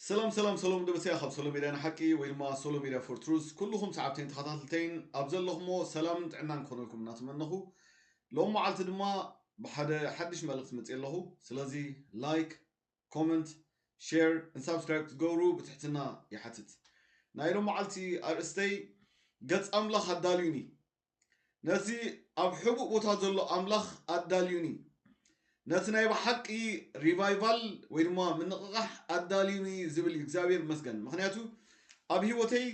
ሰላም ሰላም ሰሎም ደበሰያ ካብ ሶሎ ሚድያ ንሓቂ ወይ ድማ ሶሎ ሚድያ ፎር ትሩዝ ኩልኹም ሰዓብተይን ተኸታተልተይን ኣብ ዘለኹሞ ሰላምን ጥዕናን ክኾነልኩም እናተመነኹ ሎም መዓልቲ ድማ ብሓደ ሓድሽ መልእኽቲ መፅእ ኣለኹ ስለዚ ላይክ ኮመንት ሸር ን ሳብስክራይብ ክትገብሩ ብትሕትና ይሓትት ናይ ሎመዓልቲ ኣርእስተይ ገጽ ኣምላኽ ኣዳልዩኒ ነቲ ኣብ ሕቡእ ቦታ ዘሎ ኣምላኽ ኣዳልዩኒ ነቲ ናይ ብሓቂ ሪቫይቫል ወይ ድማ ምንቕቓሕ ኣዳልዩኒ ዝብል እዩ እግዚኣብሔር መስገን ምክንያቱ ኣብ ህይወተይ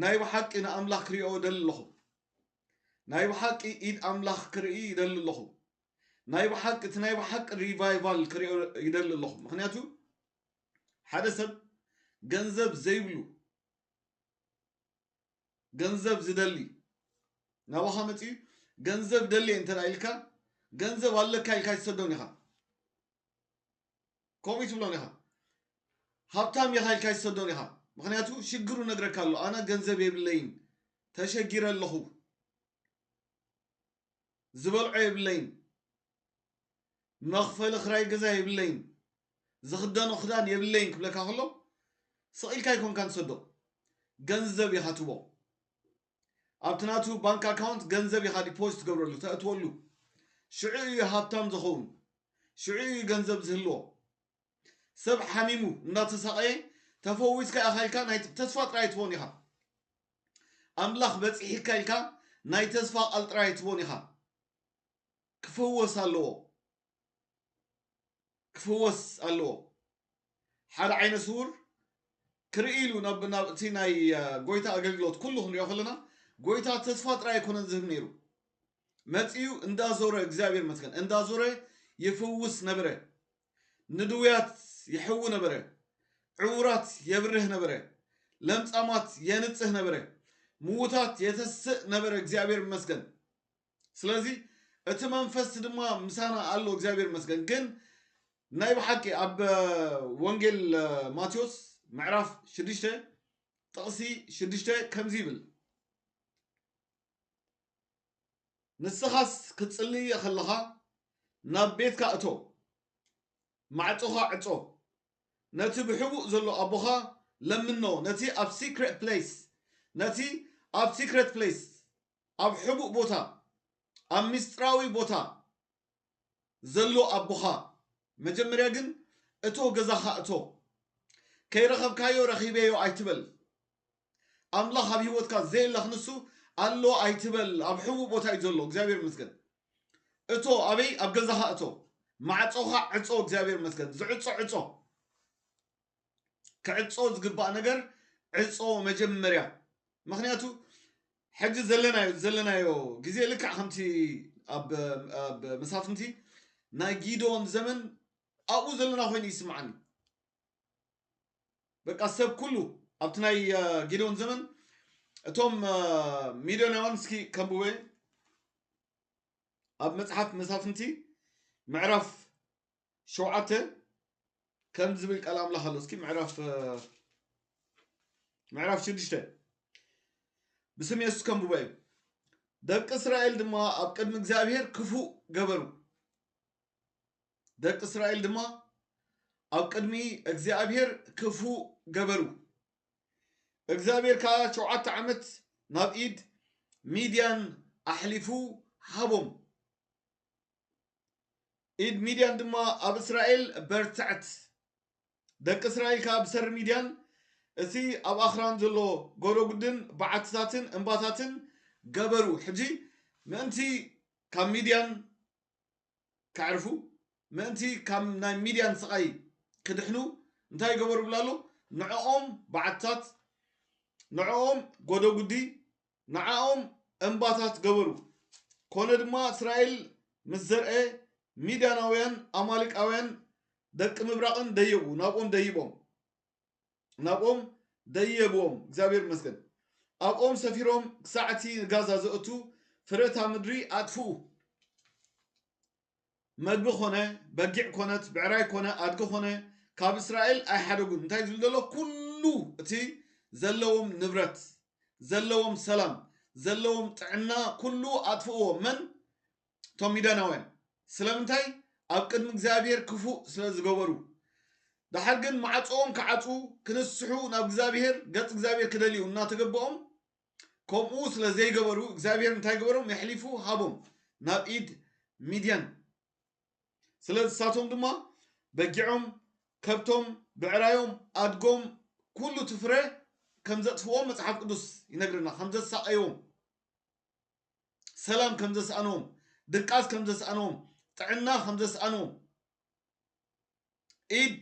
ናይ ብሓቂ ንኣምላኽ ክሪኦ ደሊ ኣለኹ ናይ ብሓቂ ኢድ ኣምላኽ ክርኢ ይደሊ ኣለኹ ናይ ብሓቂ እቲ ናይ ብሓቂ ሪቫይቫል ክሪኦ ይደሊ ኣለኹ ምክንያቱ ሓደ ሰብ ገንዘብ ዘይብሉ ገንዘብ ዝደሊ ናባኻ መፅኡ ገንዘብ ደልየ እንተ ኢልካ ገንዘብ ኣለካ ኢልካ ይሰዶን ኢኻ ከምኡ ትብሎን ኢኻ ሃብታም ኢኻ ኢልካ ይሰዶን ኢኻ ምክንያቱ ሽግሩ ነግረካ ኣሎ ኣነ ገንዘብ የብለይን ተሸጊረ ኣለኹ ዝበልዖ የብለይን መኽፈሊ ክራይ ገዛ የብለይን ዝኽደኖ ክዳን የብለይን ክብለካ ከሎ ስቕ ኢልካ ኣይኮንካን ትሰዶ ገንዘብ ኢኻ ትቦ ኣብቲ ናቱ ባንክ ኣካውንት ገንዘብ ኢኻ ዲፖዚት ትገብረሉ ተእትወሉ ሽዑ እዩ ሃብታም ዝኸውን ሽዑ እዩ ገንዘብ ዝህልዎ ሰብ ሓሚሙ እናተሳቐየ ተፈዊስካ ኢኻ ኢልካ ናይ ተስፋ ጥራይ ትቦን ኢኻ ኣምላኽ በጺሒካ ኢልካ ናይ ተስፋ ቃል ጥራይ ኣይትቦን ኢኻ ክፍወስ ኣለዎ ክፍወስ ኣለዎ ሓደ ዓይነ ስውር ክርኢ ኢሉ ናብ ናብ እቲ ናይ አ፣ ጎይታ ኣገልግሎት ኩሉ ክንሪኦ ከለና ጎይታ ተስፋ ጥራይ ኣይኮነን ዝህብ ነይሩ መጺኡ እንዳዞረ እግዚኣብሔር መስገን እንዳዞረ ይፍውስ ነበረ ንድውያት ይሕዊ ነበረ፣ ዕውራት የብርህ ነበረ፣ ለምጻማት የንጽህ ነበረ፣ ምዉታት የተስእ ነበረ እግዚኣብሔር ይመስገን። ስለዚ እቲ መንፈስ ድማ ምሳና ኣሎ እግዚኣብሔር ይመስገን። ግን ናይ ብሓቂ ኣብ ወንጌል ማቴዎስ ምዕራፍ ሽዱሽተ ጥቕሲ ሽዱሽተ ከምዚ ይብል ንስኻስ ክትጽሊ ኸለኻ ናብ ቤትካ እቶ፣ ማዕጾኻ ዕጾ፣ ነቲ ብሕቡእ ዘሎ ኣቦኻ ለምኖ፣ ነቲ ኣብ ሲክሬት ፕለይስ፣ ነቲ ኣብ ሲክሬት ፕለይስ፣ ኣብ ሕቡእ ቦታ፣ ኣብ ምስጢራዊ ቦታ፣ ዘሎ ኣቦኻ መጀመርያ ግን እቶ ገዛኻ እቶ ከይረኸብካዮ ረኺበዮ ኣይትበል ኣምላኽ ኣብ ሂወትካ ዘየለ ክንሱ ኣሎ ኣይትበል ኣብ ሕቡእ ቦታ እዩ ዘሎ እግዚኣብሔር መስገን እቶ ኣበይ ኣብ ገዛኻ እቶ ማዕፆኻ ዕፆ እግዚኣብሔር መስገን ዝዕፆ ዕፆ ክዕጾ ዝግባእ ነገር ዕጾ መጀመርያ ምክንያቱ ሕጂ ዘለናዮ ዘለናዮ ግዜ ልክዕ ከምቲ ኣብ ኣብ መሳፍንቲ ናይ ጊዶን ዘመን ኣብኡ ዘለና ኮይኑ ይስምዓኒ በቃ ሰብ ኩሉ ኣብቲ ናይ ጊዶን ዘመን እቶም ሚዶናውያን እስኪ ከንብበ ኣብ መጽሓፍ መሳፍንቲ ምዕራፍ ሸውዓተ ከምዚ ዝብል ቃል ኣምላኽ ኣሎ እስኪ ምዕራፍ ምዕራፍ ሽዱሽተ ብስም የሱስ ከንብቦ እዩ ደቂ እስራኤል ድማ ኣብ ቅድሚ እግዚኣብሄር ክፉእ ገበሩ ደቂ እስራኤል ድማ ኣብ ቅድሚ እግዚኣብሄር ክፉእ ገበሩ እግዚኣብሄር ከዓ ሸውዓተ ዓመት ናብ ኢድ ሚድያን ኣሕሊፉ ሃቦም ኢድ ሚድያን ድማ ኣብ እስራኤል በርትዕት ደቂ እስራኤል ከዓ ብሰሪ ሚድያን እቲ ኣብ ኣኽራን ዘሎ ጎረጉድን በዓትታትን እምባታትን ገበሩ ሕጂ ምእንቲ ካብ ሚድያን ከዕርፉ ምእንቲ ካብ ናይ ሚድያን ስቓይ ክድሕኑ እንታይ ገበሩ ብላ ኣሎ ንዕኦም በዓትታት ንዕኦም ጎደጉዲ ንዓኦም እምባታት ገበሩ። ኰነ ድማ፣ እስራኤል ምስ ዘርኤ፣ ሚድያናውያን፣ ኣማሌቃውያን፣ ደቂ ምብራቕን ደየቡ፣ ናብኦም ደይቦም፣ ናብኦም ደየብዎም፣ እግዚኣብሄር ይመስገን፣ ኣብኦም ሰፊሮም፣ ክሳዕ እቲ ንጋዛ ዘእቱ ፍረ እታ ምድሪ ኣጥፍኡ። መግቢ ኮነ በጊዕ ኮነት ብዕራይ ኮነ ኣድጊ ኮነ ካብ እስራኤል ኣይሓደጉን እንታይ ዝብል ዘሎ ኩሉ እቲ ዘለዎም ንብረት ዘለዎም ሰላም ዘለዎም ጥዕና ኩሉ ኣጥፍእዎ መን እቶም ሚዳናውያን ስለምንታይ ኣብ ቅድሚ እግዚኣብሄር ክፉእ ስለ ዝገበሩ ደሓር ግን ማዕፅኦም ክዓፁ ክነስሑ ናብ እግዚኣብሄር ገፅ እግዚኣብሄር ክደልዩ እናተገበኦም ከምኡ ስለ ዘይገበሩ እግዚኣብሄር እንታይ ገበሮም የሕሊፉ ሃቦም ናብ ኢድ ሚድያን ስለ ንሳቶም ድማ በጊዖም ከብቶም ብዕራዮም ኣድጎም ኩሉ እቲ ፍረ ከም ዘጥፍዎም መጽሓፍ ቅዱስ ይነግረና ከም ዘሳቐይዎም ሰላም ከም ዘስኣንዎም ድቃስ ከም ዘስኣንዎም ጥዕና ከም ዘስኣንዎም ኢድ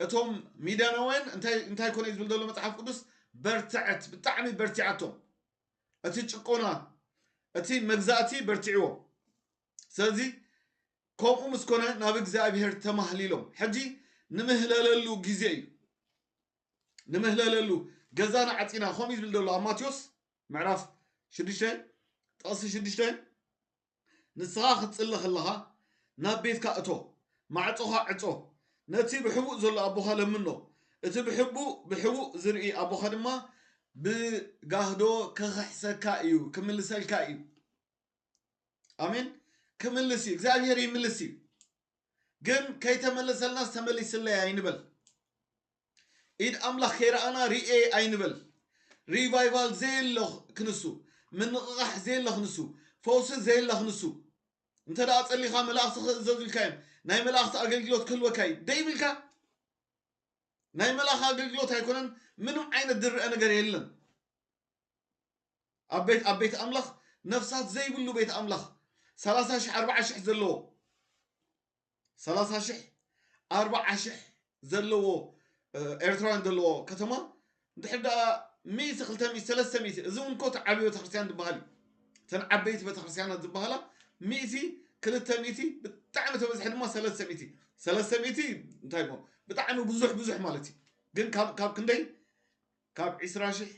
እቶም ሚዳናውያን እንታይ እንታይ ኮነ ዝብል ዘሎ መጽሓፍ ቅዱስ በርትዐት ብጣዕሚ በርቲዓቶም እቲ ጭቆና እቲ መግዛእቲ በርቲዕዎ ስለዚ ከምኡ ምስ ኮነ ናብ እግዚኣብሄር ተማህሊሎም ሕጂ ንምህለለሉ ግዜ እዩ ንምህለለሉ ገዛና ዓፂና ከምኡ እዩ ዝብል ዘሎ ኣብ ማቴዎስ ምዕራፍ ሽዱሽተ ጥቕሲ ሽዱሽተ ንስኻ ክትጽሊ ከለኻ ናብ ቤትካ እቶ፣ ማዕጾኻ ዕጾ፣ ነቲ ብሕቡእ ዘሎ ኣቦኻ ለምኖ፣ እቲ ብሕቡእ ብሕቡእ ዝርኢ ኣቦኻ ድማ ብጋህዶ ክኽሕሰካ እዩ፣ ክምልሰልካ እዩ። ኣሜን። ክምልስ እዩ፣ እግዚኣብሄር ይምልስ እዩ። ግን ከይተመለሰልናስ ተመሊስለይ ኣይንበል። ኢድ ኣምላኽ ከይረኣና ርእየ ኣይንበል። ሪቫይቫል ዘየለ ክንሱ፣ ምንቕቓሕ ዘየለ ክንሱ፣ ፈውሲ ዘየለ ክንሱ። እንተ ደኣ ጸሊኻ መላእኽቲ ክእዘዙ ኢልካዮም፣ ናይ መላእኽቲ ኣገልግሎት ክህልወካ እዩ ደይብልካ? ናይ መላእኽ ኣገልግሎት ኣይኮነን፣ ምንም ዓይነት ዝርኣ ነገር የለን። ኣብ ቤት ኣብ ቤት ኣምላኽ ነፍሳት ዘይብሉ ቤት ኣምላኽ ሰላሳ ሽሕ ኣርብዓ ሽሕ ዘለዎ ሰላሳ ሽሕ ኣርባዓ ሽሕ ዘለዎ ኤርትራውያን ዘለዎ ከተማ እንድሕር ደኣ ሚእቲ ክልተ ሚእቲ ሰለስተ ሚእቲ እዚ እውን ኮት ዓብዪ ቤተክርስትያን ዝበሃል እዩ እተን ዓበይቲ ቤተክርስትያናት ዝበሃላ ሚእቲ ክልተ ሚእቲ ብጣዕሚ ተበዝሐ ድማ ሰለስተ ሚእቲ ሰለስተ ሚእቲ እንታይ እሞ ብጣዕሚ ብዙሕ ብዙሕ ማለት እዩ ግን ካብ ካብ ክንደይ ካብ ዕስራ ሽሕ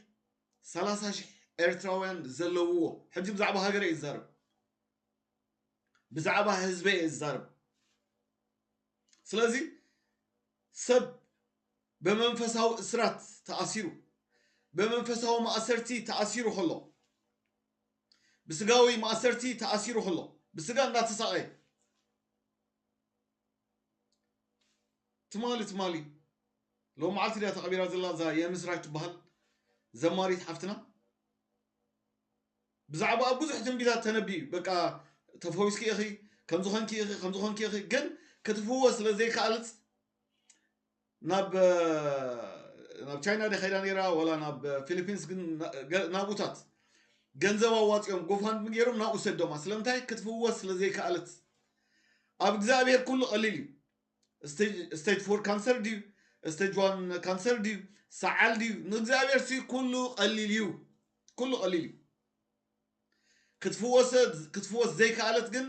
ሰላሳ ሽሕ ኤርትራውያን ዘለውዎ ሕጂ ብዛዕባ ሃገረ እዩ ዝዛረብ ብዛዕባ ህዝበይ እየ ዝዛረብ ስለዚ ሰብ ብመንፈሳዊ እስራት ተኣሲሩ ብመንፈሳዊ ማእሰርቲ ተኣሲሩ ከሎ ብስጋዊ ማእሰርቲ ተኣሲሩ ከሎ ብስጋ እንዳተሳቐየ ትማሊ ትማሊ ሎም መዓልቲ ድያ ተቐቢራ ዘላ እዛ የምስራች ትበሃል ዘማሪት ሓፍትና ብዛዕባኣ ብዙሕ ትንቢታት ተነብዩ እዩ በቃ ተፈዊስኪ ኢኺ ከምዚ ኮንኪ ኢኺ ከምዚ ኮንኪ ኢኺ ግን ክትፍወስ ስለ ዘይከኣልት ናብ ናብ ቻይና ደ ከይዳ ነይራ ወላ ናብ ፊሊፒንስ ግን ናብኡታት ገንዘብ ኣዋፂኦም ጎፋንድሚ ገይሮም ናብኡ ሰዶማ ስለምንታይ ክትፍወስ ስለ ዘይከኣለት ኣብ እግዚኣብሔር ኩሉ ቀሊል እዩ ስቴጅ ፎር ካንሰር ድዩ ስቴጅ ዋን ካንሰር ድዩ ሰዓል ድዩ ንእግዚኣብሔር ሲ ኩሉ ቀሊል እዩ ኩሉ ቀሊል እዩ ክትፍወሰ ክትፍወስ ዘይከኣለት ግን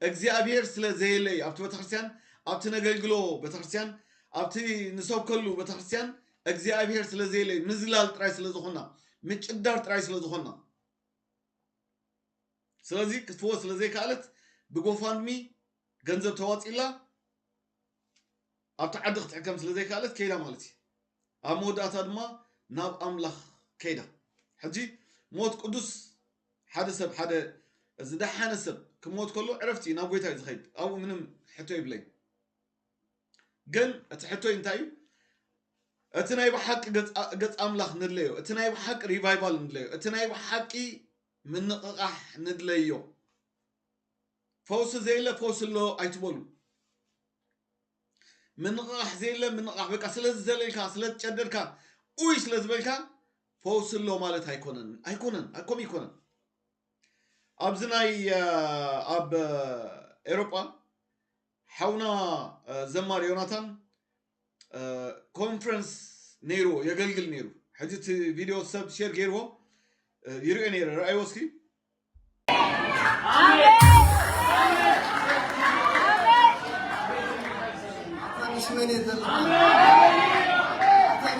እግዚኣብሔር ስለ ዘየለ እዩ ኣብቲ ቤተክርስትያን ኣብቲ ነገልግሎ ቤተክርስትያን ኣብቲ ንሰብከሉ ቤተክርስትያን እግዚኣብሔር ስለ ዘየለ እዩ ምዝላል ጥራይ ስለ ዝኾና ምጭዳር ጥራይ ስለ ዝኾና ስለዚ ክትፍወስ ስለ ዘይከኣለት ብጎፋንድሚ ገንዘብ ተዋጺኡላ ኣብቲ ዓዲ ክትሕከም ስለ ዘይከኣለት ከይዳ ማለት እዩ ኣብ መወዳእታ ድማ ናብ ኣምላኽ ከይዳ ሕጂ ሞት ቅዱስ ሓደ ሰብ ሓደ ዝደሓነ ሰብ ክሞት ከሎ ዕረፍቲ እዩ ናብ ጎይታ እዩ ዝኸይድ ኣብኡ ምንም ሕቶ ይብለይ ግን እቲ ሕቶይ እንታይ እዩ እቲ ናይ ብሓቂ ገፅ ኣምላኽ ንድለዮ እቲ ናይ ብሓቂ ሪቫይቫል ንድለዮ እቲ ናይ ብሓቂ ምንቕቓሕ ንድለዮ ፈውሲ ዘየለ ፈውሲ ኣሎ ኣይትበሉ። ምንቕቓሕ ዘየለ ምንቕቓሕ በቃ ስለ ዝዘለልካ ስለ ዝጨደርካ ኡይ ስለ ዝበልካ ፈውሲ ኣሎ ማለት ኣይኮነን ኣይኮነን ኣይኮም ይኮነን ኣብዚ ናይ ኣብ ኤሮጳ ሓውና ዘማሪ ዮናታን ኮንፈረንስ ነይርዎ የገልግል ነይሩ ሕጂ እቲ ቪድዮ ሰብ ሼር ገይርዎ ይርኦ ነይረ ረኣይዎ እስኪ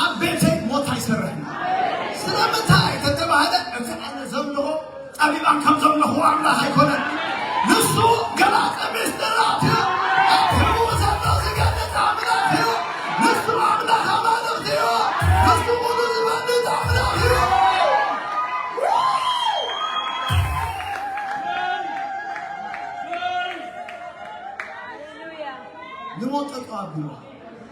ኣብ ቤተይ ሞት ኣይሰርሕን ስለምንታይ ተተባህለ እቲ ኣነ ዘምልኾ ጠቢባን ከም ዘምልኽዎ ኣምላኽ ኣይኮነን ንሱ ገላጸ ምስጢራት እዩ ኣብ ሕቡእ ዘሎ ዝገልጽ ኣምላኽ እዩ ንሱ ኣምላኽ ኣማልኽቲ እዩ ንሱ ኩሉ ዝፈልጥ ኣምላኽ እዩ ንሞት ጠጠው ኣብልዋ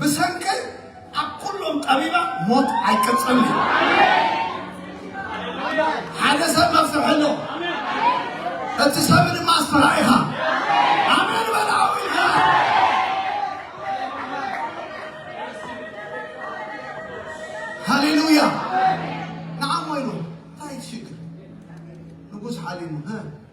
ብሰንከይ ኣብ ኩሎም ጠቢባ ሞት ኣይቅጽልን እዩ። ሓደ ሰብ መፍትሒ ኣሎ። እቲ ሰብ ድማ ኣስፍራ ኢኻ። ኣሜን በላዊ ሃሌሉያ ንዓሞ ኢሉ እንታይ ትሽግር ንጉስ ሓሊሙ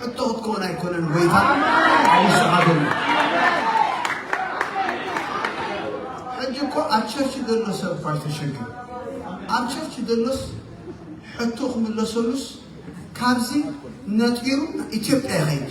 ሕቶ ክትከውን ኣይኮነን ጎይታ ኣቢስኻ ዘሎ ሕጂ እኮ ኣብ ቸርች ዘሎ ሰብ እኳ ዝተሸግር ኣብ ቸርች ዘሎስ ሕቶ ክምለሰሉስ ካብዚ ነጢሩ ኢትዮጵያ ይኸይድ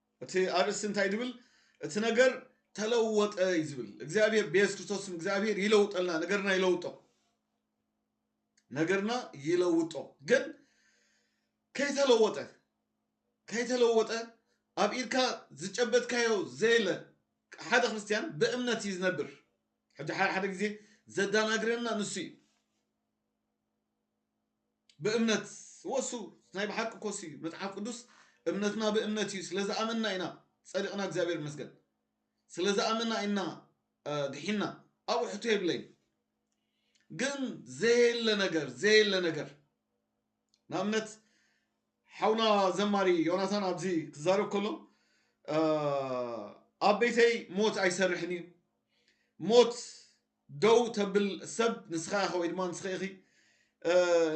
እቲ ኣርእስቲ እንታይ ድብል እቲ ነገር ተለወጠ እዩ ዝብል እግዚኣብሔር ብየሱስ ክርስቶስ ስም እግዚኣብሔር ይለውጠልና ነገርና ይለውጦ ነገርና ይለውጦ ግን ከይተለወጠ ከይተለወጠ ኣብ ኢድካ ዝጨበጥካዮ ዘየለ ሓደ ክርስትያን ብእምነት እዩ ዝነብር ሕጂ ሓደ ሓደ ግዜ ዘዳናግረና ንሱ እዩ ብእምነት ወሱ ናይ ብሓቂ ኮሱ እዩ መጽሓፍ ቅዱስ እምነትና ብእምነት እዩ ስለ ዝኣመንና ኢና ጸዲቕና እግዚኣብሔር ይመስገን ስለ ዝኣመና ኢና ድሒና ኣብኡ ሕቶ የብለይን ግን ዘየለ ነገር ዘየለ ነገር ንኣብነት ሓውና ዘማሪ ዮናታን ኣብዚ ክዛረብ ከሎ ኣብ ቤተይ ሞት ኣይሰርሕን እዩ ሞት ደው ተብል ሰብ ንስኻ ኢኻ ወይ ድማ ንስኺ ኢኺ።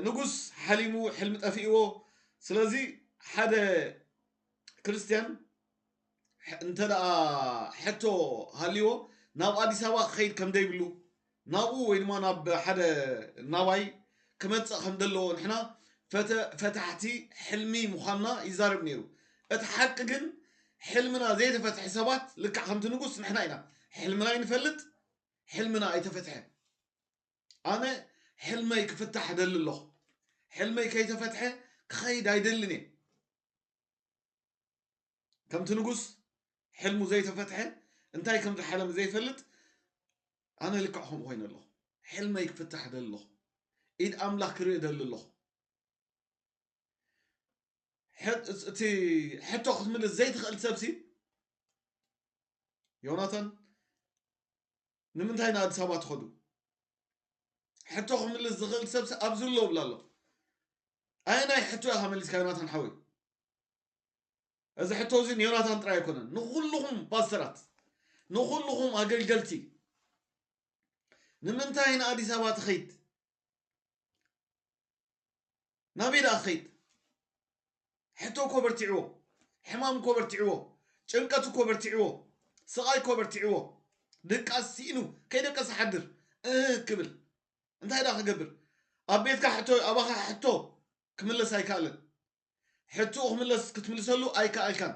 ንጉስ ሓሊሙ ሕልሚ ጠፊእዎ ስለዚ ሓደ ክርስትያን እንተ ሕቶ ሃልዎ ናብ ኣዲስ ኣበባ ክኸይድ ከም ዘይብሉ ናብኡ ወይ ድማ ናብ ሓደ ናባይ ክመፅእ ከም ዘለዎ ንሕና ፈታሕቲ ሕልሚ ምዃንና ይዛረብ ነይሩ እቲ ሓቂ ግን ሕልምና ዘይተፈትሐ ሰባት ልክዕ ከምቲ ንጉስ ንሕና ኢና ሕልምና ይንፈልጥ ሕልምና ኣይተፈትሐን ኣነ ሕልመይ ክፍታሕ እደሊ ኣለኹ ሕልመይ ከይተፈትሐ ክኸይድ ኣይደልን እየ ከምቲ ንጉስ ሕልሙ ዘይተፈትሐ እንታይ ከም ዝሓለም ዘይፈልጥ ኣነ ልክዕ ከምኡ ኮይነ ኣለኹ ሕልመይ ክፍታሕ እደሊ ኣለኹ ኢድ ኣምላኽ ክርኢ እደሊ ኣለኹ እቲ ሕቶ ክትምልስ ዘይትኽእል ሰብሲ ዮናታን ንምንታይ ንኣዲስ ኣበባ ትኸዱ ሕቶ ክምልስ ዝኽእል ሰብሲ ኣብዚ ኣሎ ብላ ኣሎ ኣየናይ ሕቶ ኢኻ መሊስካ ዮናታን ሓወይ እዚ ሕቶ እዚ ንዮናታን ጥራይ ኣይኮነን ንኩልኹም ፓስተራት ንኩልኹም ኣገልገልቲ ንምንታይ ንኣዲስ ኣበባ ትኸይድ ናበይ ደኣ ክኸይድ? ሕቶ እኮ በርቲዕዎ፣ ሕማም እኮ በርቲዕዎ፣ ጭንቀት እኮ በርቲዕዎ፣ ስቓይ እኮ በርቲዕዎ፣ ድቃስ ስኢኑ ከይደቀሰ ሓድር እህ ክብል እንታይ ደኣ ክገብር? ኣብ ቤትካ ሕቶ ኣባኻ ሕቶ ክምለስ ኣይከኣለን። ሕትኡ ክምለስ ክትምልሰሉ ኣይከኣልካን።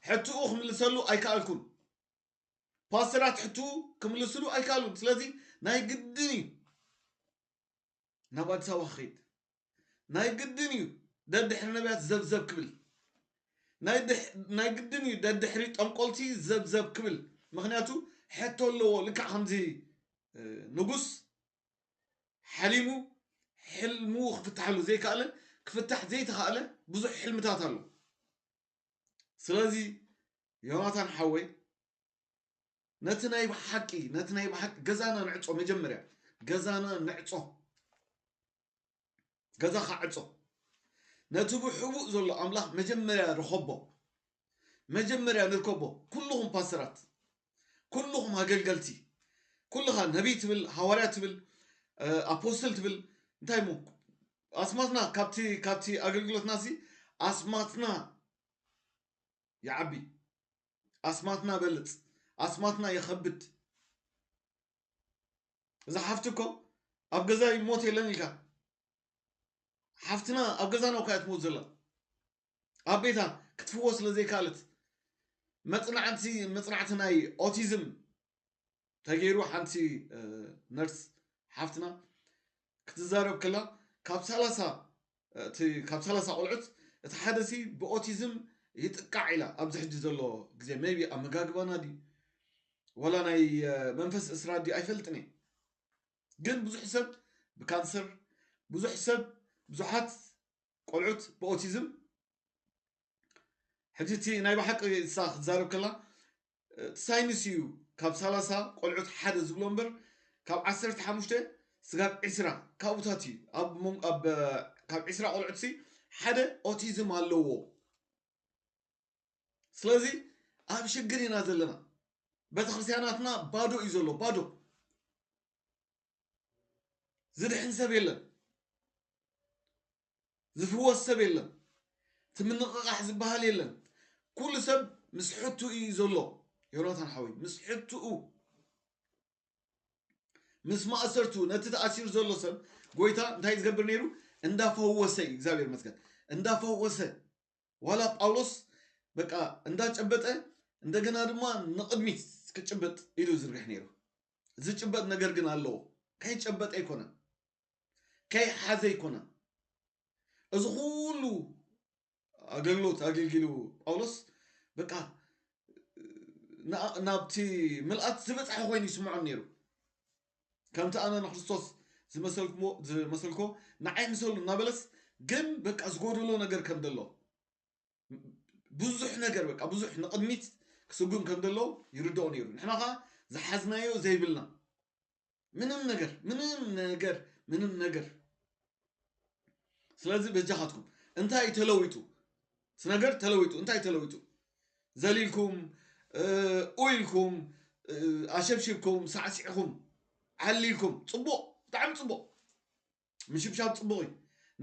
ሕትኡ ክምልሰሉ ኣይከኣልኩን። ፓስተራት ሕትኡ ክምልስሉ ኣይከኣሉን። ስለዚ ናይ ግድን እዩ ናብ ኣዲስ ኣበባ ክኸይድ ናይ ግድን እዩ ደድሕሪ ነቢያት ዘብዘብ ክብል ናይ ግድን እዩ ደድሕሪ ጠንቆልቲ ዘብዘብ ክብል ምክንያቱ ሕቶ ኣለዎ ልክዕ ከምዚ ንጉስ ሓሊሙ ሕልሙ ክፍታሓሉ ዘይከኣለ ክፍታሕ ዘይተኸኣለ ብዙሕ ሕልምታት ኣሎ ስለዚ ዮናታን ሓወይ ነቲ ናይ ብሓቂ ነቲ ናይ ብሓቂ ገዛና ንዕጾ መጀመርያ ገዛና ንዕጾ ገዛኻ ዕጾ ነቲ ብሕቡእ ዘሎ ኣምላኽ መጀመርያ ርኸቦ መጀመርያ ንርከቦ ኩልኹም ፓስተራት ኩልኹም ኣገልገልቲ ኩልኻ ነቢይ ትብል ሃዋርያ ትብል ኣፖስትል ትብል እንታይ ሞ ኣስማትና ካብቲ ካብቲ ኣገልግሎትና ሲ ኣስማትና ይዓቢ ኣስማትና በልጽ ኣስማትና የኸብድ እዛ ሓፍቲ እኮ ኣብ ገዛ ይሞት የለን ኢልካ ሓፍትና ኣብ ገዛ ነው ካያ ትሞት ዘላ ኣብ ቤታ ክትፍዎ ስለ ዘይካለት መፅናዕቲ መፅናዕቲ ናይ ኦቲዝም ተገይሩ ሓንቲ ነርስ ሓፍትና ክትዛረብ ከላ ካብ ሰላሳ እቲ ካብ ሰላሳ ቆልዑት እቲ ሓደ ሲ ብኦቲዝም ይጥቃዕ ኢላ ኣብዚ ሕጂ ዘሎ ግዜ መይቢ ኣመጋግባና ድዩ ወላ ናይ መንፈስ እስራ ድዩ ኣይፈልጥን እየ ግን ብዙሕ ሰብ ብካንሰር ብዙሕ ሰብ ብዙሓት ቆልዑት ብኦቲዝም ሕጂ እቲ ናይ ብሓቂ እሳ ክትዛረብ ከላ እቲ ሳይንስ እዩ ካብ ሳላሳ ቆልዑት ሓደ ዝብሎ እምበር ካብ ዓሰርተ ሓሙሽተ ስጋብ ዕስራ ካብኡታት እዩ ኣብ ሞን- ኣብ እ፣ ካብ ዕስራ ቆልዑትሲ ሓደ ኦቲዝም ኣለዎ ስለዚ ኣብ ሽግር ኢና ዘለና ቤተክርስትያናትና ባዶ እዩ ዘሎ ባዶ ዝድሕን ሰብ የለን ዝፍወስ ሰብ የለን እቲ ምንቕቓሕ ዝበሃል የለን ኩሉ ሰብ ምስ ሕትኡ እዩ ዘሎ ዮናታን ሓወይ ምስ ሕትኡ ምስ ማእሰርቱ ነቲ ተኣሲሩ ዘሎ ሰብ ጎይታ እንታይ እዩ ዝገብር ነይሩ እንዳፈወሰ እዩ እግዚኣብሔር መስገን እንዳፈወሰ ዋላ ጳውሎስ በቃ እንዳጨበጠ እንደገና ድማ ንቕድሚት ክጭበጥ ኢዱ ዝርግሕ ነይሩ ዝጭበጥ ነገር ግን ኣለዎ ከይጨበጠ ኣይኮነን ከይሓዘ ኣይኮነን እዚ ኩሉ ኣገልግሎት ኣገልጊሉ ጳውሎስ በቃ ናብቲ ምልኣት ዝበፅሐ ኮይኑ ይስምዖን ነይሩ ከምቲ ኣነ ንክርስቶስ ዝመሰልኮ ንዓይ ምሰሉ እናበለስ ግን በቃ ዝጎደሎ ነገር ከም ዘሎ ብዙሕ ነገር በቃ ብዙሕ ንቕድሚት ክስጉም ከም ዘለዎ ይርድኦ ነይሩ ንሕና ከዓ ዝሓዝናዮ ዘይብልና ምንም ነገር ምንም ነገር ምንም ነገር ስለዚ በጃኻትኩም እንታይ ተለዊጡ እቲ ነገር ተለዊጡ እንታይ ተለዊጡ ዘሊልኩም ኡኢልኩም ኣሸብሽብኩም ሳዕሲዕኹም ዓሊልኩም ፅቡቕ ብጣዕሚ ፅቡቕ ምሽብሻብ ጽቡቕ እዩ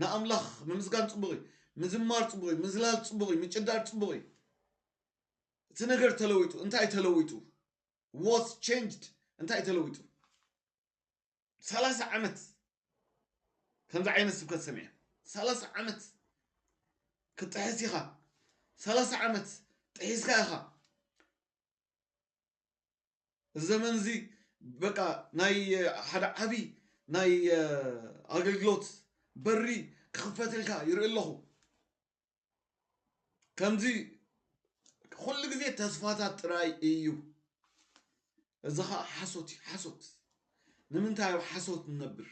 ንኣምላኽ ምምስጋን ጽቡቕ እዩ ምዝማር ጽቡቕ እዩ ምዝላል ጽቡቕ እዩ ምጭዳር ጽቡቕ እዩ እቲ ነገር ተለዊጡ እንታይ ተለዊጡ ዋስ ቼንጅድ እንታይ ተለዊጡ ሰላሳ ዓመት ከምዚ ዓይነት ስብከት ሰሚዐ ሰላሳ ዓመት ክትጥሕስ ኢኻ ሰላሳ ዓመት ጥሒስካ ኢኻ እዚ ዘመን እዚ በቃ ናይ ሓደ ዓብዪ ናይ ኣገልግሎት በሪ ክኽፈትልካ ይርኢ ኣለኹ ከምዚ ኩሉ ግዜ ተስፋታት ጥራይ እዩ እዚ ከዓ ሓሶት እዩ ሓሶት ንምንታይ ኣብ ሓሶት ንነብር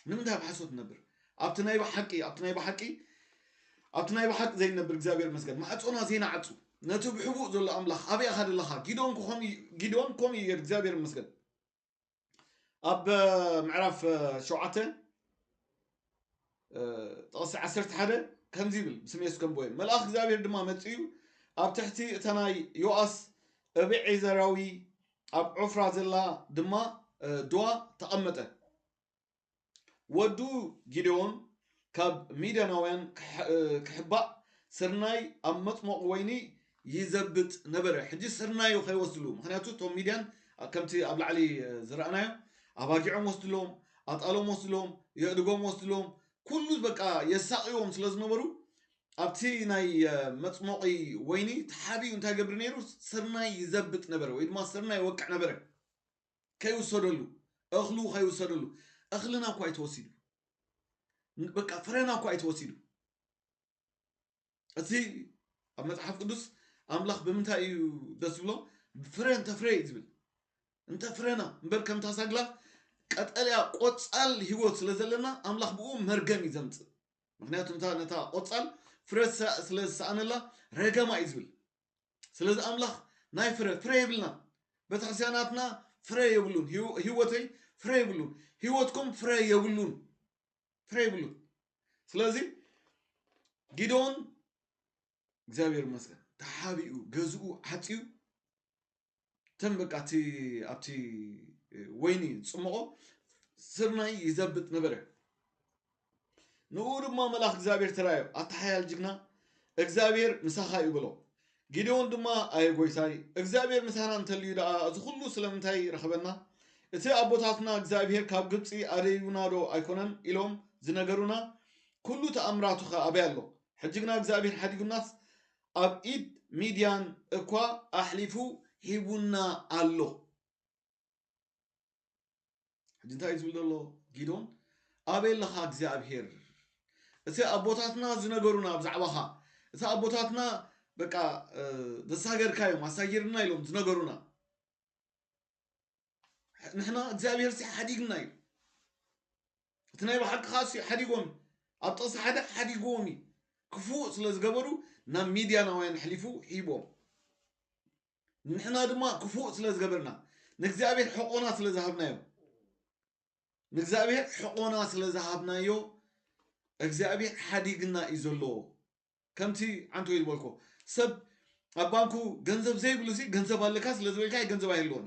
ንምንታይ ኣብ ሓሶት ነብር ኣብቲ ናይ ብሓቂ ኣብቲ ናይ ብሓቂ ኣብቲ ናይ ብሓቂ ዘይነብር እግዚኣብሔር መስገን ማዕፆና ዘይናዓፁ ነቲ ብሕቡእ ዘሎ ኣምላኽ ኣበይ ኣኻ ደለኻ ጊዶን ጊዶን ከምኡ እዩ ገር እግዚኣብሔር መስገን ኣብ ምዕራፍ ሸውዓተ ጥቕሲ ዓሰርተ ሓደ ከምዚ ይብል ብስም የሱስ ከምቦየ መልኣኽ እግዚኣብሔር ድማ መፅኡ ኣብ ትሕቲ እታ ናይ ዮኣስ እብዔዘራዊ ኣብ ዖፍራ ዘላ ድማ ድዋ ተቐመጠ ወዱ ጊዴዎን ካብ ሚድያናውያን ክሕባእ ስርናይ ኣብ መፅሞቕ ወይኒ ይዘብጥ ነበረ ሕጂ ስርናዩ ከይወስድሉ ምክንያቱ እቶም ሚድያን ከምቲ ኣብ ላዕሊ ዝረኣናዮ ኣባጊዖም ወስድሎም ኣጣሎም ወስድሎም የእድጎም ወስድሎም ኩሉ በቃ የሳቅዎም ስለ ዝነበሩ ኣብቲ ናይ መፅሞቂ ወይኒ ተሓቢኡ እንታይ ገብሪ ነይሩ ስርናይ ይዘብጥ ነበረ ወይ ድማ ስርናይ ይወቅዕ ነበረ ከይውሰደሉ እኽሉ ከይውሰደሉ እኽልና እኳ ኣይተወሲዱ በቃ ፍረና እኳ ኣይተወሲዱ እቲ ኣብ መጽሓፍ ቅዱስ ኣምላኽ ብምንታይ እዩ ደስ ዝብሎ ፍረ እንተ ፍረ እዩ ዝብል እንተ ፍረና እምበር ከምታ ሳግላ ቀጠልያ ቆፃል ህይወት ስለ ዘለና ኣምላኽ ብኡ መርገም እዩ ዘምፅእ ምክንያቱ እንታ ነታ ቆፃል ፍረ ዝሰ- ስለ ዝሰኣነላ ረገማ እዩ ዝብል ስለዚ ኣምላኽ ናይ ፍረ ፍረ የብልና ቤተክርስትያናትና ፍረ የብሉን ህይወ- ህይወተይ ፍረ የብሉን ህይወትኩም ፍረ የብሉን ፍረ ይብሉን ስለዚ ጊዶን እግዚኣብሔር ይመስገን ተሓቢኡ ገዝኡ ዓፅዩ እተን በቃ እቲ ኣብቲ ወይኒ ዝፅመቖ ስርናይ ይዘብጥ ነበረ ንኡ ድማ መልኣክ እግዚኣብሔር ተራዮ ኣተሓያል ጅግና እግዚኣብሔር ምሳኻ እዩ ብሎ ጊዴዎን ድማ ኣየ ጐይታይ፣ እግዚኣብሄር ምሳና እንተልዩ ደኣ እዚ ዅሉ ስለምንታይ ረኸበና? እቲ ኣቦታትና እግዚኣብሄር ካብ ግብጺ ኣደዩናዶ ኣይኰነን? ኢሎም ዝነገሩና ኵሉ ተኣምራቱኸ ኣበይ ኣሎ? ሕጂ ግና እግዚኣብሄር ሓዲጉናስ ኣብ ኢድ ሚድያን እኳ ኣሕሊፉ ሂቡና ኣሎ። ሕጂ እንታይ እዩ ዝብል ዘሎ ጊዶን ኣበይ ኣለኻ እግዚኣብሄር እቲ ኣቦታትና ዝነገሩና ብዛዕባኻ እቲ ኣቦታትና በቃ ዘሳገርካ እዮም ኣሳጊርና ኢሎም ዝነገሩና ንሕና እግዚኣብሄር ሲ ሓዲግና እዩ እቲ ናይ ባሓቅኻ ሲ ሓዲጎም ኣብ ጥቕሲ ሓደ ሓዲጎም እዩ ክፉእ ስለ ዝገበሩ ናብ ሚድያናውያን ሕሊፉ ሂቦም ንሕና ድማ ክፉእ ስለ ዝገበርና ንእግዚኣብሔር ሕቆና ስለ ዝሃብናዮ ንእግዚኣብሔር ሕቆና ስለ ዝሃብናዮ እግዚኣብሔር ሓዲግና እዩ ዘሎ ከምቲ ዓንቶ ይልበልኮ ሰብ ኣብ ባንኩ ገንዘብ ዘይብሉ ሲ ገንዘብ ኣለካ ስለ ዝበልካ ገንዘብ ኣይህልዎን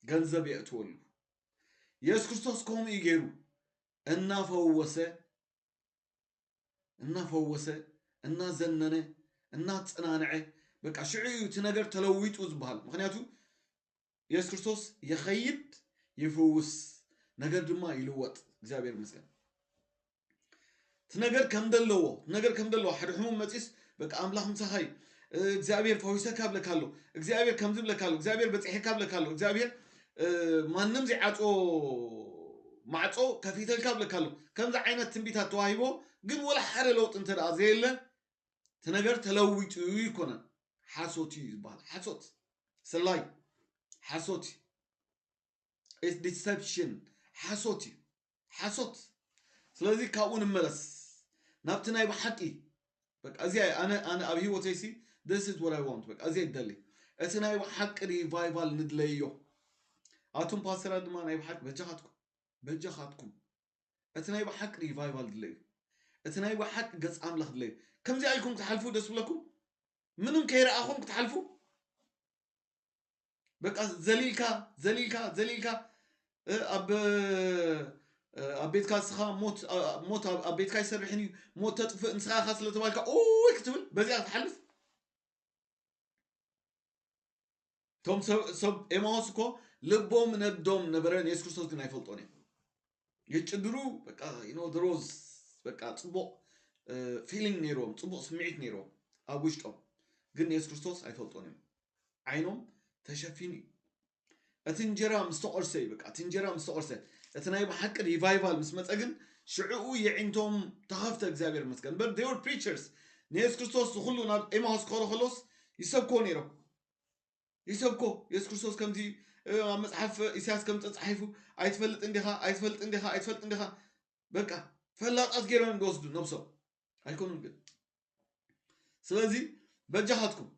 ገንዘብ የእትወሉ የሱስ ክርስቶስ ከምኡ እዩ ገይሩ እናፈወሰ እናፈወሰ እናዘነነ እናፀናንዐ በቃ ሽዑ እዩ እቲ ነገር ተለዊጡ ዝበሃል ምክንያቱ የሱስ ክርስቶስ ይኸይድ ይፍውስ ነገር ድማ ይልወጥ እግዚኣብሔር ይመስገን እቲ ነገር ከም ዘለዎ እቲ ነገር ከም ዘለዎ ሓደ ሕሙም መፂስ በቃ ኣምላኽ ምሳኻ እዩ እ፣ እግዚኣብሔር ፈዊሰካ ብለካ ኣሎ እግዚኣብሔር ከምዚ ብለካ ኣሎ እግዚኣብሔር በፂሐካ ብለካ ኣሎ እግዚኣብሔር ማንም ዘይዓጽዎ ማዕጾ ከፊተልካ እብለካ ኣለኩ ከምዚ ዓይነት ትንቢታት ተዋሂቦ ግን ወላ ሓደ ለውጢ እንተ ዘየለ እቲ ነገር ተለዊጡ ይኮነን ሓሶት እዩ ዝበሃል ሓሶት ስላይ ሓሶት እዩ ዲሰፕሽን ሓሶት እዩ ሓሶት ስለዚ ካብኡ ንመለስ ናብቲ ናይ ብሓቂ በቃ እዚ ኣነ ኣነ ኣብ ሂወተይ ሲ this is what I want በቃ እዚ ይደሊ እቲ ናይ ብሓቂ ሪቫይቫል ንድለዮ ኣቱም ፓስተራት ድማ ናይ ብሓቂ በጃኻትኩም በጃኻትኩም እቲ ናይ ብሓቂ ሪቫይቫል ድለዩ እቲ ናይ ብሓቂ ገጽ ኣምላኽ ድለዩ ከምዚ ኣይኩም ክትሓልፉ ደስ ብለኩም ምንም ከይረኣኹም ክትሓልፉ በቃ ዘሊልካ ዘሊልካ ዘሊልካ እ፣ ኣብ እ፣ ኣብ ቤትካ እስኻ ሞት እ፣ ሞት ኣብ ኣብ ቤትካ ይሰርሕን እዩ ሞት ተጥፍእ ንስኻ ኢኻ ስለተባልካ ኡይ ክትብል በዚኣ ክትሓልፍ እቶም ሰብ ሰብ ኤማሆስ እኮ ልቦም ነዶም ነበረ ንየሱስ ክርስቶስ ግን ኣይፈልጦን እዮም የጭድሩ በቃ you know there was በቃ ጽቡቕ ፊሊንግ ነይሮም ጽቡቕ ስምዒት ነይሮም ኣብ ውሽጦም ግን የሱስ ክርስቶስ ኣይፈልጦን እዮም ዓይኖም ተሸፊኑ እዩ እቲ እንጀራ ምስ ተቖርሰ እዩ በቃ እቲ እንጀራ ምስ ተቖርሰ እቲ ናይ ብሓቂ ሪቫይቫል ምስ መፀ ግን ሽዕኡ የዒንቶም ተኸፍተ እግዚኣብሔር መስገን በር ዴር ፕሪቸርስ ንየሱስ ክርስቶስ ዝኩሉ ናብ ኤማውስ ክኸሩ ከሎስ ይሰብክዎ ነይሮም ይሰብኮ የሱስ ክርስቶስ ከምዚ ኣብ መጽሓፍ ኢሳያስ ከም ተጻሒፉ ኣይትፈልጥን ዲኻ ኣይትፈልጥን ዲኻ ኣይትፈልጥን ዲኻ በቃ ፈላጣት ገይሮም ዝወስዱ ነብሶም ኣይኮኑን ግን ስለዚ በጃኻትኩም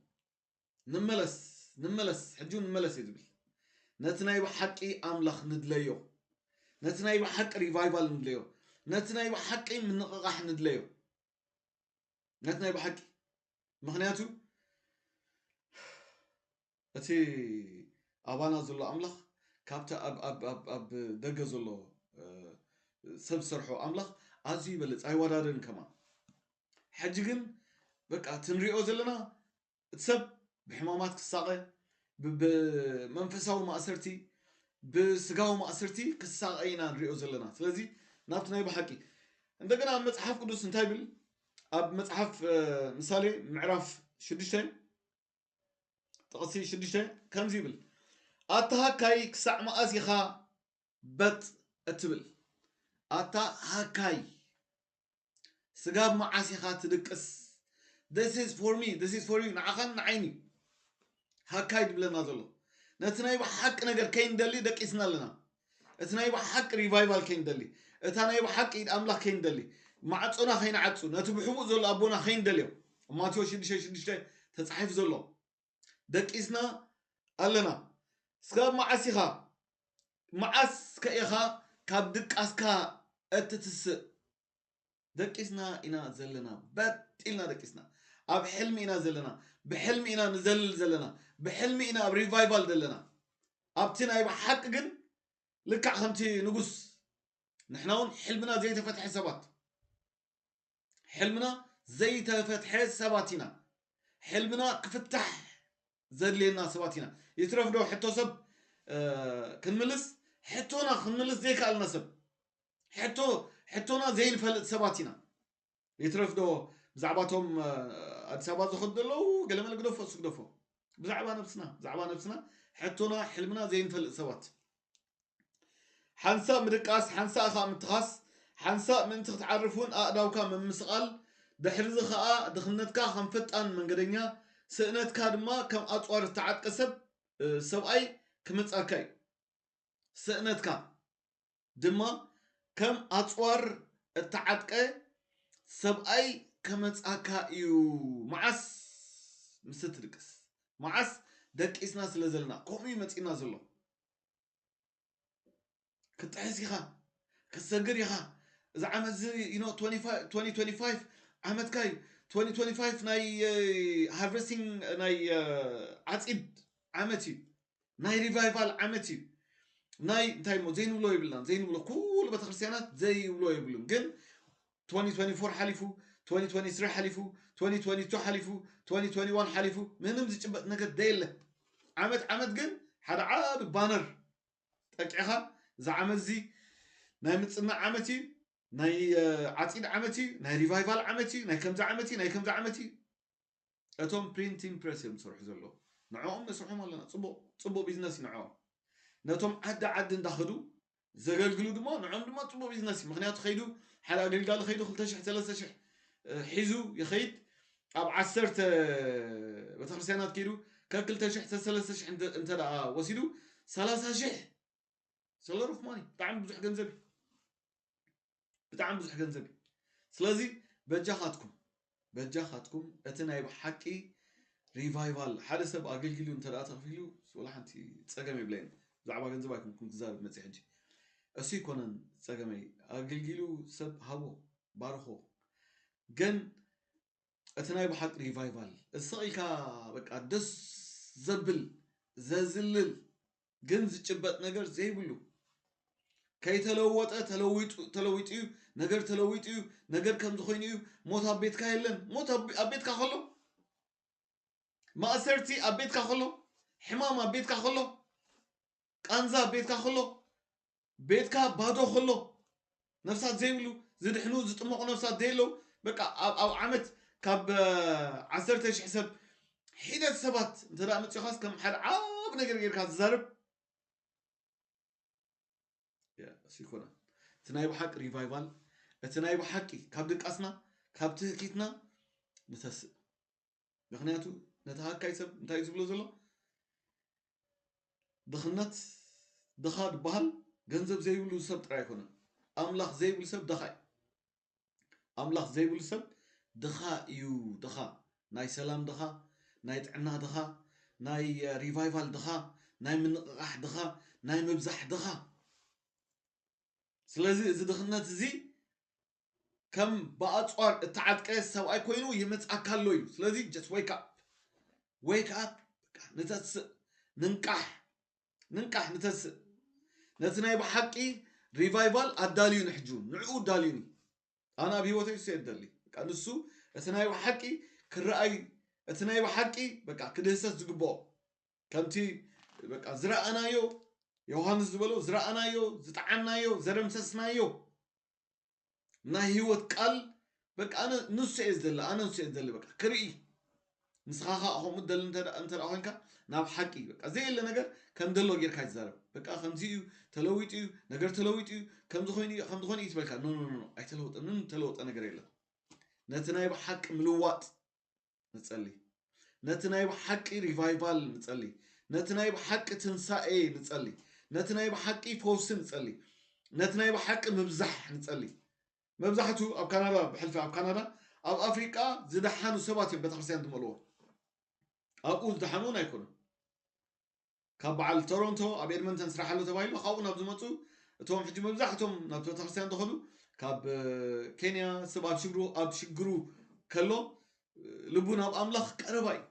ንመለስ ንመለስ ሕጂ እውን ንመለስ እዩ ዝብል ነቲ ናይ ብሓቂ ኣምላኽ ንድለዮ ነቲ ናይ ብሓቂ ሪቫይቫል ንድለዮ ነቲ ናይ ብሓቂ ምንቕቓሕ ንድለዮ ነቲ ናይ ብሓቂ ምክንያቱ እቲ ኣባና ዘሎ ኣምላኽ ካብቲ ኣብ ደገ ዘሎ ሰብ ዝሰርሖ ኣምላኽ ኣዝዩ ይበልፅ ኣይወዳደርን ከማ ሕጂ ግን በቃ እቲ ንሪኦ ዘለና እቲ ሰብ ብሕማማት ክሳቐ፣ ብመንፈሳዊ ማእሰርቲ፣ ብስጋዊ ማእሰርቲ ክሳቐ ኢና ንሪኦ ዘለና። ስለዚ ናብቲ ናይ ብሓቂ እንደገና ኣብ መጽሓፍ ቅዱስ እንታይ ይብል? ኣብ መጽሓፍ እ፣ ምሳሌ ምዕራፍ ሽዱሽተ ጥቕሲ ሽዱሽተ ከምዚ ይብል ኣታ ሃካይ ክሳዕ መኣዝ ኢኻ በጥ እትብል ኣታ ሃካይ ስጋብ መዓስ ኢኻ ትድቅስ this is for me this is for you ንዓኻን ንዓይን እዩ ሃካይ ድብለና ዘሎ ነቲ ናይ ብሓቂ ነገር ከይንደሊ ደቂስና ኣለና እቲ ናይ ብሓቂ ሪቫይቫል ከይንደሊ እታ ናይ ብሓቂ ኢድ ኣምላኽ ከይንደሊ ማዕፆና ከይንዓፁ ነቲ ብሕቡእ ዘሎ ኣቦና ከይንደልዮ ማቴዎስ 6 6 ተፃሒፉ ዘሎ ደቂስና ኣለና ስጋብ መዓስ ኢኻ መዓስ ከ ኢኻ ካብ ድቃስካ እትትስእ ደቂስና ኢና ዘለና በጥ ኢልና ደቂስና ኣብ ሕልሚ ኢና ዘለና ብሕልሚ ኢና ንዘልል ዘለና ብሕልሚ ኢና ኣብ ሪቫይቫል ዘለና ኣብቲ ናይ ብሓቂ ግን ልክዕ ከምቲ ንጉስ ንሕና እውን ሕልምና ዘይተፈትሐ ሰባት ሕልምና ዘይተፈትሐ ሰባት ኢና ሕልምና ክፍታሕ ዘድልየና ሰባት ኢና ይትረፍ ዶ ሕቶ ሰብ ክንምልስ ሕቶና ክንምልስ ዘይከኣልና ሰብ ሕቶ ሕቶና ዘይንፈልጥ ሰባት ኢና ይትረፍ ዶ ብዛዕባ እቶም ኣዲስ ኣበባ ዝኸዱ ዘለዉ ገለመለ ግደፎ እሱ ግደፎ ብዛዕባ ነብስና ብዛዕባ ነብስና ሕቶና ሕልምና ዘይንፈልጥ ሰባት ሓንሳእ ምድቃስ፣ ሓንሳእ ኸኣ ምትኻስ፣ ሓንሳእ ምእንቲ ክትዓርፍ እውን ኣእዳውካ ምምስቓል፣ ድሕርዚ ኸኣ ድኽነትካ ኸም ፈጣን መንገደኛ፣ ስእነትካ ድማ ከም ኣጽዋር ዝተዓጥቀ ሰብ፣ ሰብኣይ፣ ክመጽኣካ እዩ። ስእነትካ ድማ ከም ኣጽዋር እተዓጥቀ ሰብኣይ ክመጽኣካ እዩ። መዓስ ምስ እትድቅስ፣ መዓስ ደቂስና ስለ ዘለና ከምኡ እዩ መጺእና ዘሎ። ክትጥሕስ ኢኻ ክትሰግር ኢኻ እዚ ዓመት እዚ you know 25 2025 ዓመትካ እዩ 2025 ናይ ሃርቨስቲንግ ናይ እ፣ ዓፂድ ዓመት እዩ ናይ ሪቫይቫል ዓመት እዩ ናይ እንታይ እሞ ዘይንብሎ የብልናን ዘይንብሎ ኩሉ ቤተክርስትያናት ዘይብሎ የብሉን ግን 2024 ሓሊፉ፣ 2023 ሓሊፉ፣ 2022 ሓሊፉ፣ 2021 ሓሊፉ፣ ምንም ዝጭበጥ ነገር ደየለ። ዓመት ዓመት ግን ሓደ ዓቢ ባነር ጠቂዕኻ እዚ ዓመት እዚ ናይ ምጽናዕ ዓመት እዩ፣ ናይ ዓጺድ ዓመት እዩ፣ ናይ ሪቫይቫል ዓመት እዩ፣ ናይ ከምዚ ዓመት እዩ፣ ናይ ከምዚ ዓመት እዩ። እቶም ፕሪንቲን ፕረስ እዮም ዝሰርሑ ዘለዉ ንዕኦም ነስርሖም ኣለና ጽቡቕ ጽቡቕ ቢዝነስ ንዕኦም ነቶም ዓዲ ዓዲ እንዳኸዱ ዘገልግሉ ድማ ንዕኦም ድማ ጽቡቕ ቢዝነስ እዩ ምክንያቱ ከይዱ ሓደ ኣገልጋሊ ከይዱ 2,000 3,000 ሒዙ ይኸይድ ኣብ ዓሰርተ ቤተክርስትያናት ከይዱ ከክልተ ሽሕ ሰለስተ ሽሕ እንተ ወሲዱ ሰላሳ ሽሕ ሰለሩፍ ማኒ ብጣዕሚ ብዙሕ ገንዘብ እዩ ብጣዕሚ ብዙሕ ገንዘብ እዩ ስለዚ በጃኻትኩም በጃኻትኩም እቲ ናይ ብሓቂ ሪቫይቫል ሓደ ሰብ ኣገልግሉ እንተ ተኽፊሉ ወላ ሓንቲ ፀገም የብለይን ብዛዕባ ገንዘብ ኣይኮንኩም ክዛረብ መፅ ሕጂ እሱ ይኮነን ፀገመይ ኣገልግሉ ሰብ ሃቦ ባርኾ ግን እቲ ናይ ብሓቂ ሪቫይቫል እሰቅ ኢልካ በቃ ደስ ዘብል ዘዝልል ግን ዝጭበጥ ነገር ዘይብሉ ከይተለወጠ ተለዊጡ እዩ ነገር ተለዊጡ እዩ ነገር ከምዚ ኮይኑ እዩ ሞት ኣብ ቤትካ የለን ሞት ኣብ ቤትካ ከሎ ማእሰርቲ ኣብ ቤትካ ከሎ ሕማም ኣብ ቤትካ ከሎ ቃንዛ ኣብ ቤትካ ከሎ ቤትካ ባዶ ከሎ ነፍሳት ዘይብሉ ዝድሕኑ ዝጥመቑ ነፍሳት ዘየለው በቃ ኣብ ኣብ ዓመት ካብ ዓሰርተ ሽሕ ሰብ ሒደት ሰባት እንተ መፂኻስ ከም ሓደ ዓብ ነገር ጌርካ ዝዛርብ ይኮነ እቲ ናይ ብሓቂ ሪቫይቫል እቲ ናይ ብሓቂ ካብ ድቃስና ካብ ትህኪትና ንተስእ ምክንያቱ ነቲ ሃካይ ሰብ እንታይ ዝብሎ ዘሎ ድኽነት ድኻ ዝበሃል ገንዘብ ዘይብሉ ሰብ ጥራይ ኣይኮነን ኣምላኽ ዘይብሉ ሰብ ድኻ እዩ ኣምላኽ ዘይብሉ ሰብ ድኻ እዩ ድኻ ናይ ሰላም ድኻ ናይ ጥዕና ድኻ ናይ ሪቫይቫል ድኻ ናይ ምንቕቓሕ ድኻ ናይ ምብዛሕ ድኻ ስለዚ እዚ ድኽነት እዚ ከም ብኣጽዋር እተዓጥቀ ሰብኣይ ኮይኑ ይመጽኣካ ኣሎ እዩ ስለዚ just wake up wake up በቃ ንተስእ ንንቃሕ ንንቃሕ ንተስእ ነቲ ናይ ብሓቂ ሪቫይቫል ኣዳልዩኒ ሕጂ እውን ንዕኡ ኣዳልዩኒ ኣነ ኣብ ሂወተይ እሱ የደሊ በቃ ንሱ እቲ ናይ ብሓቂ ክረኣይ እቲ ናይ ብሓቂ በቃ ክድህሰስ ዝግብኦ ከምቲ በቃ ዝረኣናዮ ዮሃንስ ዝበሎ ዝረኣናዮ ዝጠዓናዮ ዘደምሰስናዮ ናይ ህይወት ቃል በቃ ኣነ ንሱ እየ ዝደሊ ኣነ ንሱ እየ ዝደሊ በቃ ክርኢ ንስኻ ከዓ ከምኡ ትደሊ እንተ ኮንካ ናብ ሓቂ በቃ ዘየለ ነገር ከም ደሎ ጌርካ ይዛረብ በቃ ከምዚ እዩ ተለዊጡ እዩ ነገር ተለዊጡ እዩ ከምዚ ኮይኑ እዩ ከምዚ ኮይኑ እዩ ትበልካ ኖ ኖ ኖ ኣይተለወጠ ምንም ተለወጠ ነገር የለን ነቲ ናይ ብሓቂ ምልዋጥ ንጸሊ ነቲ ናይ ብሓቂ ሪቫይቫል ንጸሊ ነቲ ናይ ብሓቂ ትንሳኤ ንጸሊ ነቲ ናይ ብሓቂ ፈውሲ ንጸሊ ነቲ ናይ ብሓቂ ምብዛሕ ንጸሊ መብዛሕቱ ኣብ ካናዳ ብሕልፊ ኣብ ካናዳ ኣብ ኣፍሪቃ ዝደሓኑ ሰባት እዮም ቤተክርስትያን ዝመልዎ ኣብኡ ዝደሓኑ እውን ኣይኮኑን ካብ በዓል ቶሮንቶ ኣብ ኤድመንተን ስራሕ ኣሎ ተባሂሉ ካብኡ ናብ ዝመፁ እቶም ሕጂ መብዛሕቶም ናብ ቤተክርስትያን ዝኸዱ ካብ ኬንያ ሰብ ኣብ ሽግሩ ኣብ ሽግሩ ከሎ ልቡ ናብ ኣምላኽ ቀረባ እዩ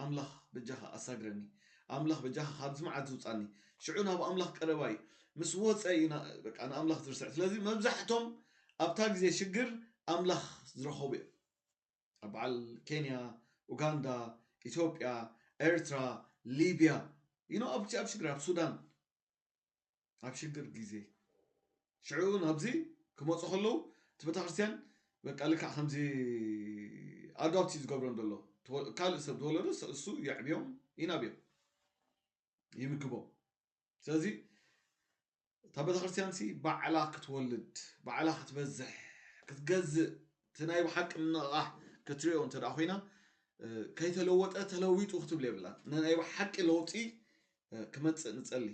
ኣምላኽ በጃኻ ኣሳግረኒ ኣምላኽ በጃኻ ካብዚ መዓት ዝውፃኒ ሽዑ ናብ ኣምላኽ ቀረባ እዩ ምስ ወፀ እዩ ንኣምላኽ ዝርስዕ ስለዚ መብዛሕቶም ኣብታ ግዜ ሽግር ኣምላኽ ዝረኸቡ እዮም ኣብ በዓል ኬንያ፣ ኡጋንዳ፣ ኢትዮጵያ፣ ኤርትራ፣ ሊብያ you know ኣብቲ ኣብ ሽግር ኣብ ሱዳን ኣብ ሽግር ግዜ ሽዑ ናብዚ ክመፁ ከለዉ እቲ ቤተክርስትያን በቃ ልክዕ ከምዚ ኣዶፕት እዩ ዝገብሮም ዘሎ ተወ- ካልእ ሰብ ዝወለዶ እሱ የዕብዮም ይናብዮም ይምግቦም ስለዚ እታ ቤተክርስትያን ሲ ባዕላ ክትወልድ ባዕላ ክትበዝሕ ክትገዝእ እቲ ናይ ብሓቂ ምንቕቓሕ ክትሪኦ እንተ ኮይና ከይተለወጠ ተለዊጡ ክትብል የብላን ናይ ብሓቂ ለውጢ ክመፅእ ንፀሊ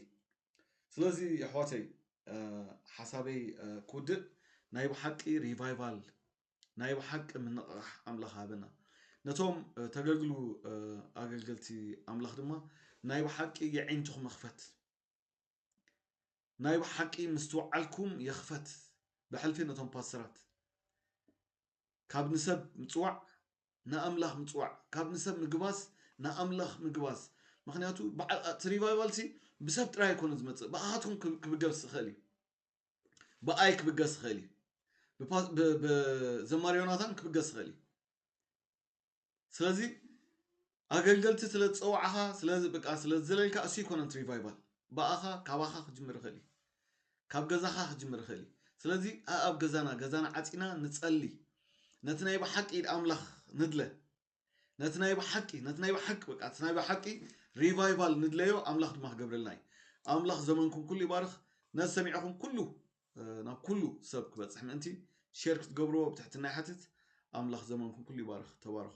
ስለዚ ኣሕዋተይ ሓሳበይ ክውድእ ናይ ብሓቂ ሪቫይቫል ናይ ብሓቂ ምንቕቓሕ ኣምላኽ ሃበና ነቶም ተገልግሉ ኣገልገልቲ ኣምላኽ ድማ ናይ ብሓቂ የዒንትኹም ይኽፈት ናይ ብሓቂ ምስትውዓልኩም የኽፈት ብሕልፊ ነቶም ፓስተራት ካብ ንሰብ ምፅዋዕ ንኣምላኽ ምፅዋዕ ካብ ንሰብ ምግባስ ንኣምላኽ ምግባስ ምክንያቱ እቲ ሪቫይቫል ሲ ብሰብ ጥራይ ኣይኮነ ዝመፅእ ብኣኻትኩም ክብገስ ዝኽእል እዩ ብኣይ ክብገስ ይኽእል እዩ ብዘማሪ ዮናታን ክብገስ ይኽእል እዩ ስለዚ ኣገልገልቲ ስለ ዝፀዋዕኻ ስለበቃ ስለ ዝዘለልካ እሱ ይኮነን ሪቫይቫል ብኣኻ ካባኻ ክጅምር ይኽእል እዩ ካብ ገዛኻ ክጅምር ይኽእል እዩ ስለዚ ኣብ ገዛና ገዛና ዓፂና ንፀሊ ነቲ ናይ ብሓቂ ኢድ ኣምላኽ ንድለ ነቲ ናይ ብሓቂ ነቲ ናይ ብሓቂ በቃ እቲ ናይ ብሓቂ ሪቫይቫል ንድለዮ ኣምላኽ ድማ ክገብረልና እዩ ኣምላኽ ዘመንኩም ኩሉ ይባርኽ ነዚ ሰሚዕኹም ኩሉ ናብ ኩሉ ሰብ ክበፅሕ ምእንቲ ሼር ክትገብርዎ ብትሕትና ይሓትት ኣምላኽ ዘመንኩም ኩሉ ይባርኽ ተባረኹ